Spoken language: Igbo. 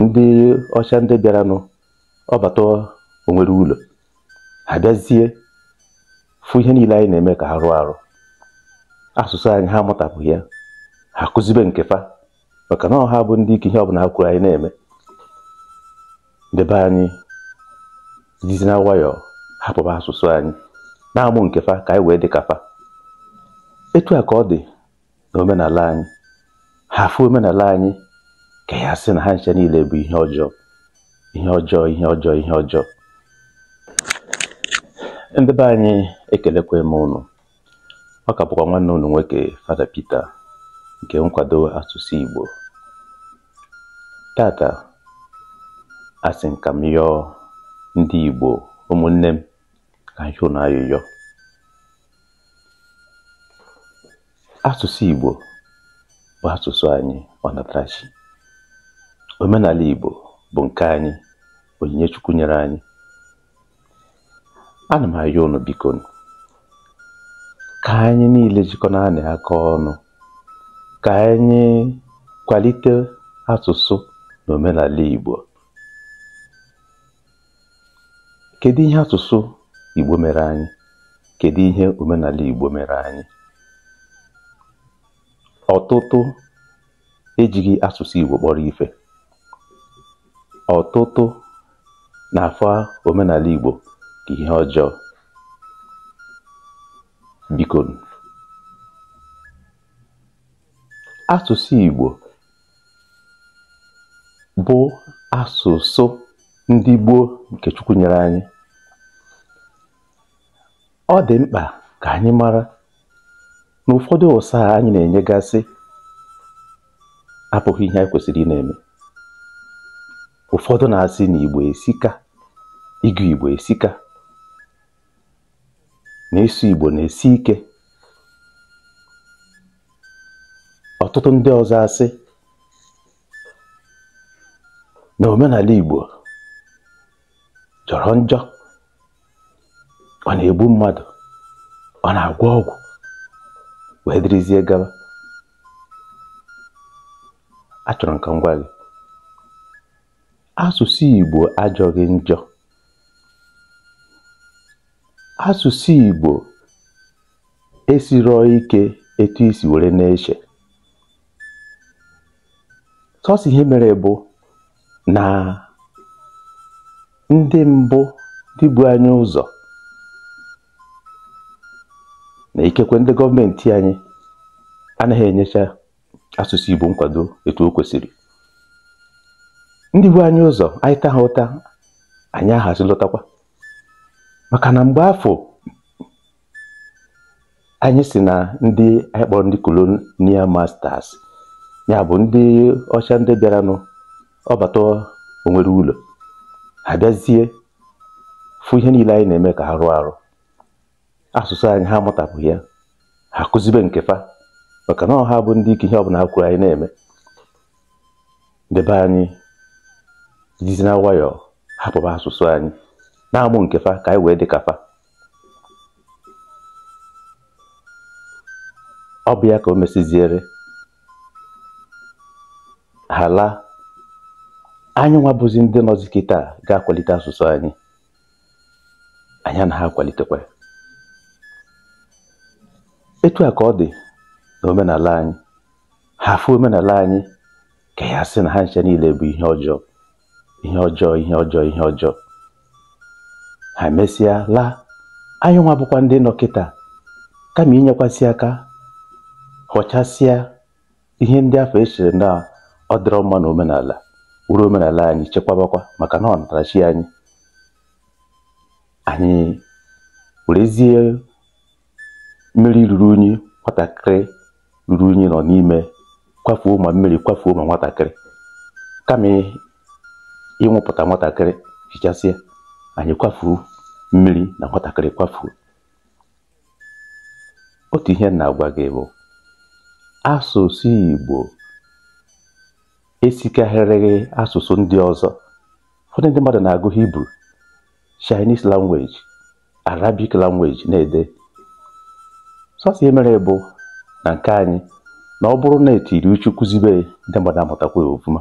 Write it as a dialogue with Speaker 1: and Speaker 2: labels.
Speaker 1: ndị ọcha ndị bịaranụ ọbata o nwere ụlọ ha bịazie fụ ihe niile anyị na-eme ka arụ arụ asụsụ anyị ha amụtapụghị ya ha kụzibe nke fa maka na ọ ha bụ ndị ike ihe ọbụla ha kwuru anyị na-eme ndị be anyị jizi nwayọọ hapụba asụsụ anyị na-amụ nke fa ka anyị wee dị ka fa etu a ka ọ dị na omenala anyị ha afụ omenala anyị ka ya sị na ha ncha niile bụ ihe ọjọọ ihe ọjọọ ihe ọjọọ ihe ọjọọ ndị be anyị ekelekwa m ụnụ ọ ka bụkwa nwanne ụnụ nwoke Fada Pita nke nkwado asụsụ Igbo tata asị m ka m yọọ ndị Igbo ụmụnne m ka m yọọ ụnụ ayụyọ asụsụ Igbo bụ asụsụ anyị ọnatarachi omenala Igbo bụ nke anyị onyinye Chukwu nyere anyị ana m ayọ unu bikonụ ka anyị niile jikọnaanụ aka ọnụ ka anyị kwalite asụsụ na omenala Igbo Kedu ihe asụsụ Igbo mere anyị? Kedu ihe omenala Igbo mere anyị? Ọtụtụ ejighị asụsụ Igbo kpọrọ ife. Ọtụtụ na-afụ omenala Igbo ka ihe ọjọọ. Bikonụ, asụsụ Igbo bụ asụsụ ndị gboo nke Chukwu nyere anyị ọ dị mkpa ka anyị mara na ụfọdụ ụsa anyị na-enyegasị abụghị ihe anyị kwesịrị ị na-eme ụfọdụ na-asị na Igbo esika ịgụ Igbo esika na ịsụ Igbo na-esi ike ọtụtụ ndị ọzọ asị na omenala Igbo jọrọ njọ ọ na-egbu mmadụ ọ na-agwọ ọgwụ wee dịrịzie gaba achọrọ m ka m gwa gị asụsụ Igbo ajọghị njọ asụsụ Igbo esirọọ ike etu i si were na-eche sọsọ ihe mere bụ na ndị mbụ ndị bu anyị ụzọ na ikekwe ndị gọọmenti anyị anaghị enyecha asụsụ Igbo nkwado etu o kwesịrị ndị bu anyị ụzọ anyị ta ha ụta anyị ahazi lotakwa maka na mgbe afụ anyị si na ndị anyị kpọrọ ndị colonial masters ya bụ ndị ọcha ndị bịaranụ ọ bata o nwere ụlọ ha bịazie fụ ihe niile anyị na-eme ka arụ arụ asụsụ anyị ha amụtapụghị ya ha kụzibe nke fa maka na ọ ha bụ ndị ike ihe ọbụla ha kwuru anyị na-eme ndị be anyị jizi na nwayọọ hapụba asụsụ anyị na-amụ nke fa ka anyị wee dị ka fa ọ bụ ya ka o mesiziere ha laa anyị nwa bụzi ndị nọzi kịta ga-akwalite asụsụ anyị anyị anaghị akwalitekwa ya etu a ka ọ dị na omenala anyị ha afụ omenala anyị ka ya sị na ha ncha niile bụ ihe ọjọọ ihe ọjọọ ihe ọjọọ ihe ọjọọ ha mesịa laa anyị nwa bụkwa ndị nọ kịta kama inyekwasị aka họchasịa ihe ndị afụ e chere na ọ dịrọ mma na omenala were omenala anyị chekwabakwa maka na ọnatarachi anyị anyị werezie mmiri ruru unyi nwatakịrị ruru unyi nọ n'ime kwafuo ma mmiri kwafuo ma nwatakịrị kama iwepụta nwatakịrị hichasịa anyị kwafuo mmiri na nwatakịrị kwafuo otu ihe m na-agwa gị bụ asụsụ Igbo esikarịrọ asụsụ ndị ọzọ ụfọdụ ndị mmadụ na-agụ Hibru Chinese language Arabic language na-ede sọsọ ihe mere bụ na nke anyị na ọ bụrụ na e tiri uchu kụzibe ya, ndị mmadụ amụtakwa ya ọfụma